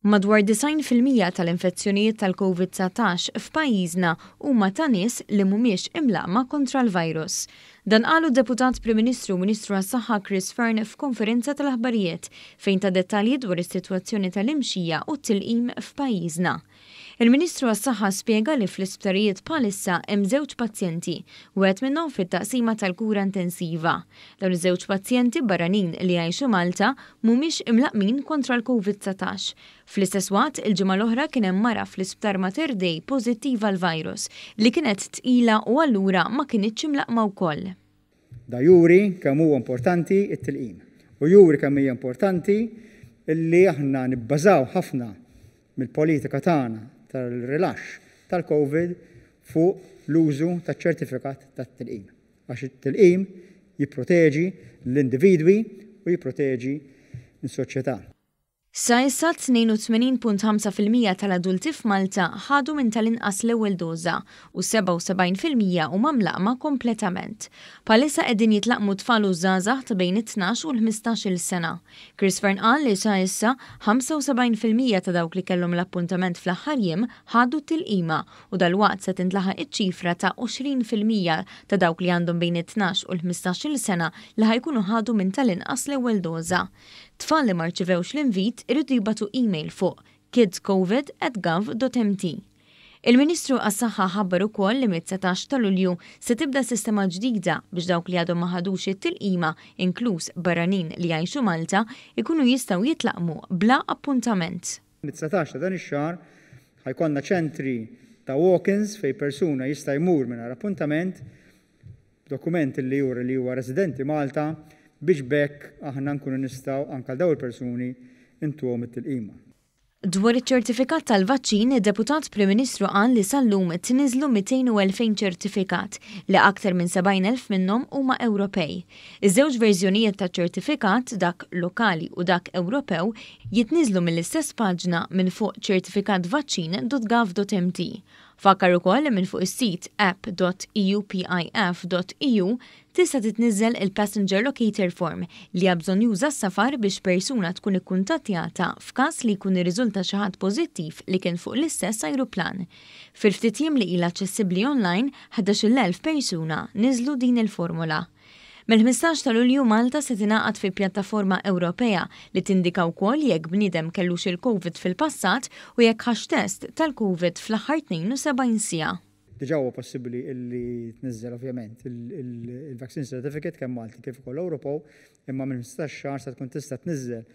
Madwar 90 fil-mija tal-infezzjonijiet tal-Covid-19 f'pajjiżna huma ta' nies li mhumiex imlaqqma kontra l-virus. Dan qalu Deputat Prim Ministru u Ministru għas-Saħħa Chris Fearne f'konferenza tal-aħbarijiet fejn ta dettalji dwar is-sitwazzjoni tal-imxija u t-tilqim f'pajjiżna. Il-Ministru għas-Saħħa spjega li fl-isptarijiet bħalissa hemm żewġ pazjenti, wieħed minnhom fit-taqsima tal-kura intensiva. Dawn iż-żewġ pazjenti barranin li jgħixu Malta mhumiex imlaqqmin kontra l-Covid 19. Fl-istess waqt, il-ġimgħa l-oħra kien hemm mara fl-Isptar Mater Dei pożittiva għall-virus, li kienet tqila u allura ma kinitx imlaqqma wkoll. Dan juri kemm huwa importanti t-tilqim u juri kemm hija importanti li aħna nibbażaw ħafna mill-politika tagħna tal-rilaxx tal-Covid fuq l-użu taċ-ċertifikat tat-tilqim għax it-tilqim jipproteġi lill-individwi u jipproteġi lis-soċjetà. Sa issa 82.5 fil-mija tal-adulti f'Malta ħadu minn tal-inqas l-ewwel doża u 77 fil-mija huma mlaqqma kompletament. Bħalissa qegħdin jitlaqqmu t-tfal u ż-żgħażagħ ta' bejn it-tnax u l-ħmistax-il sena. Chris Fearne qal li sa issa 75 fil-mija ta' dawk li kellhom l-appuntament fl-aħħar jiem ħadu t-tilqima u dalwaqt se tintlaħaq iċ-ċifra ta' 20 fil-mija ta' dawk li għandhom bejn it-tnax u l-ħmistax-il sena li ħa jkunu ħadu minn tal-inqas l-ewwel doża. Tfal li ma rċivewx l-invit iridu jibgħatu email fuq kidscovid@gov.mt. Il-Ministru għas-Saħħa ħabbar ukoll li mit-dsatax ta' Lulju se tibda sistema ġdida biex dawk li għadhom ma ħadux it-tilqima, inkluż barranin li jgħixu Malta, ikunu jistgħu jitlaqmu bla appuntament. Mit-dsatax ta' dan ix-xahar ħa jkollna ċentri ta' walk-ins fejn persuna jista' jmur mingħajr appuntament b'dokument li juri li huwa residenti Malta biex b'hekk aħna nkunu nistgħu anke għal dawn il-persuni intuhom it-tilqima. Dwar iċ-ċertifikat tal-vaċċin, id-Deputat Prim Ministru qal li sal-lum tniżżlu 202,000 ċertifikat li aktar minn 70,000 minnhom huma Ewropej. Iż-żewġ verżjonijiet taċ-ċertifikat, dak lokali u dak Ewropew, jitniżżlu mill-istess paġna minn fuq certificatvaccin.gov.mt. Fakkar ukoll li minn fuq is-sit app.eupif.eu tista' titniżżel il-Passenger Locator Form li hija bżonnjuża s-safar biex persuna tkun ikkuntattjata f'każ li jkun irriżulta xi ħadd pożittiv li kien fuq l-istess ajruplan. Fil-ftit jiem li ilha aċċessibbli online, 11,000 persuna niżżlu din il-formola. Mill-15 ta' Lulju Malta se tingħaqad fi pjattaforma Ewropea li tindika wkoll jekk bniedem kellux il-Covid fil-passat u jekk ħax test tal-Covid fl-aħħar 72 siegħa. Diġà huwa possibbli li tniżżel ovvjament il-Vaccine Certificate kemm Malti kif ukoll Ewropew imma minn ħmistax xahar se tkun tista' tniżżel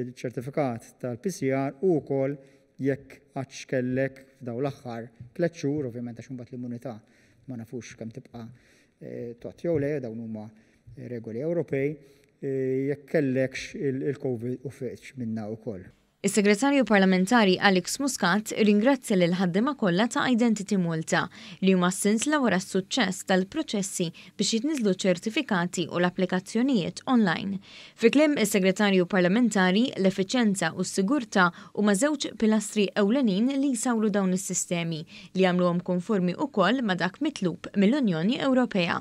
iċ-ċertifikat tal-PCR u wkoll jekk għadx kellek f'dawn l-aħħar tliet xhur, ovvjament għax imbagħad l-immunità ma nafux kemm tibqa' Tgħodd jew le, dawn huma regoli Ewropej. Jekk kellekx il-Covid u fiqtx minnha wkoll. Is-Segretarju Parlamentari Alex Muscat irringrazzja lill-ħaddiema kollha ta' Identity Malta li huma s-sinsla wara s-suċċess tal-proċessi biex jitniżżlu ċ-ċertifikati u l-applikazzjonijiet online. Fi kliem is-Segretarju Parlamentari, l-effiċjenza u s-sigurtà huma żewġ pilastri ewlenin li jsawru dawn is-sistemi, li jagħmluhom konformi wkoll ma' dak mitlub mill-Unjoni Ewropea.